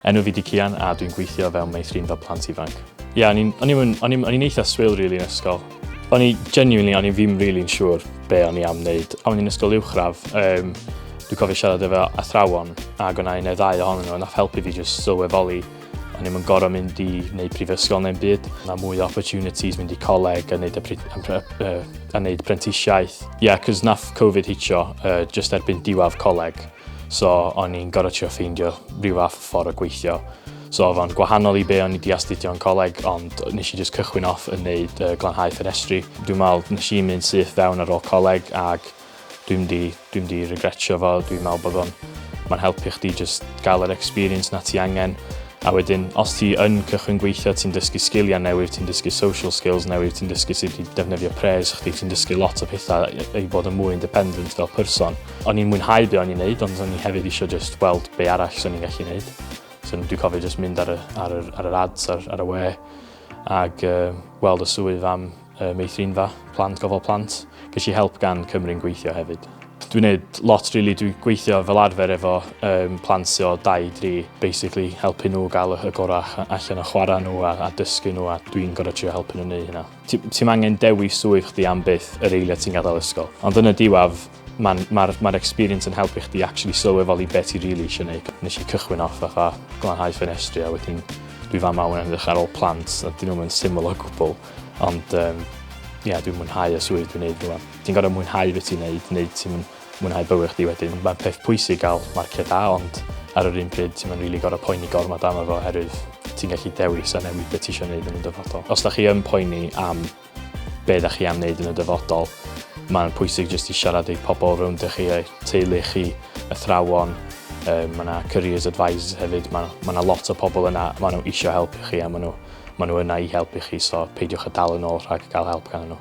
Enw fi 'di Cian a dwi'n gweithio fel meithrinfa plant ifanc. Ie, o'n i'n, o'n i'm yn, o'n i'm, o'n i'n eitha swil rili yn ysgol. O'n i, genuinely, o'n i ddim rili'n siŵr be o'n i am wneud. O'n i'n ysgol uwchradd, yym, dwi'n cofio siarad efo athrawon ac o'na un neu ddau ohonyn nhw a nath helpu fi jyst sylweddoli o'n i'm yn gorfod mynd i wneud prifysgol neu'n byd. Mae mwy o opportunities mynd i coleg a wneud, y pri- yn pre- yy, a wneud prentisiaeth. Ie, cos nath Covid hitio uh, just erbyn diwadd coleg. so o'n i'n gorfod trio ffeindio rhyw fath o ffordd o gweithio. So oedd o'n gwahanol i be o'n i di astudio yn coleg, ond nes i just cychwyn off yn neud uh, glanhau ffenestri. Dwi'n meddwl nes i mynd syth fewn ar ôl coleg ac dwi'n di, dwi'n di regretio fo, dwi'n meddwl bod o'n mae'n helpu chdi just gael yr experience na ti angen. A wedyn, os ti yn cychwyn gweithio, ti'n dysgu sgiliau newydd, ti'n dysgu social skills newydd, ti'n dysgu sut i defnyddio pres chdi, ti'n dysgu lot o pethau i bod yn mwy independent fel person. O'n i'n mwynhau be o'n i'n neud ond o'n i hefyd eisiau just gweld be arall sy'n ni'n gallu neud. So dwi'n cofio just mynd ar y, ar yr, ar yr ads ar, ar y we ag uh, weld y swydd am uh, meithrinfa plant, gofal plant. Ges i help gan Cymru'n gweithio hefyd. Dwi'n neud lot really, dwi'n gweithio fel arfer efo um, plant sy'n o 2-3, basically helpu nhw gael y gorau allan o chwarae nhw a, a dysgu nhw a dwi'n gorau trio helpu nhw wneud hynna. Ti'n angen dewis swydd chdi am byth yr eiliad ti'n gadael ysgol. Ond yn y diwaf, Mae'n ma ma experience yn helpu chdi actually sylweddoli beth ti really eisiau gwneud. Nes i cychwyn off fatha glanhau ffenestri a wedyn dwi fama wan yn edrych ar ôl plant a dyn nhw'n syml o gwbl. Ond um, ie, yeah, dwi'n mwynhau y swydd dwi'n neud rwan. Ti'n gorau mwynhau beth ti'n neud, neu ti'n mwynhau bywyd chdi wedyn. Mae'n peth pwysig gael marciau da, ond ar yr un pryd ti'n mynd rili gorau poeni gormod am efo oherwydd ti'n gallu dewis a newid beth ti eisiau gwneud yn y dyfodol. Os da chi yn poeni am Be da chi am wneud yn y dyfodol? Mae'n pwysig jyst i siarad i pobl rownd i chi, eich teulu chi, athrawon, um, mae yna careers advisors hefyd, mae ma yna lot o pobl yna, mae nhw eisiau helpu chi a mae nhw, ma nhw yna i helpu chi, so peidiwch a dal yn ôl rhag cael help gan nhw.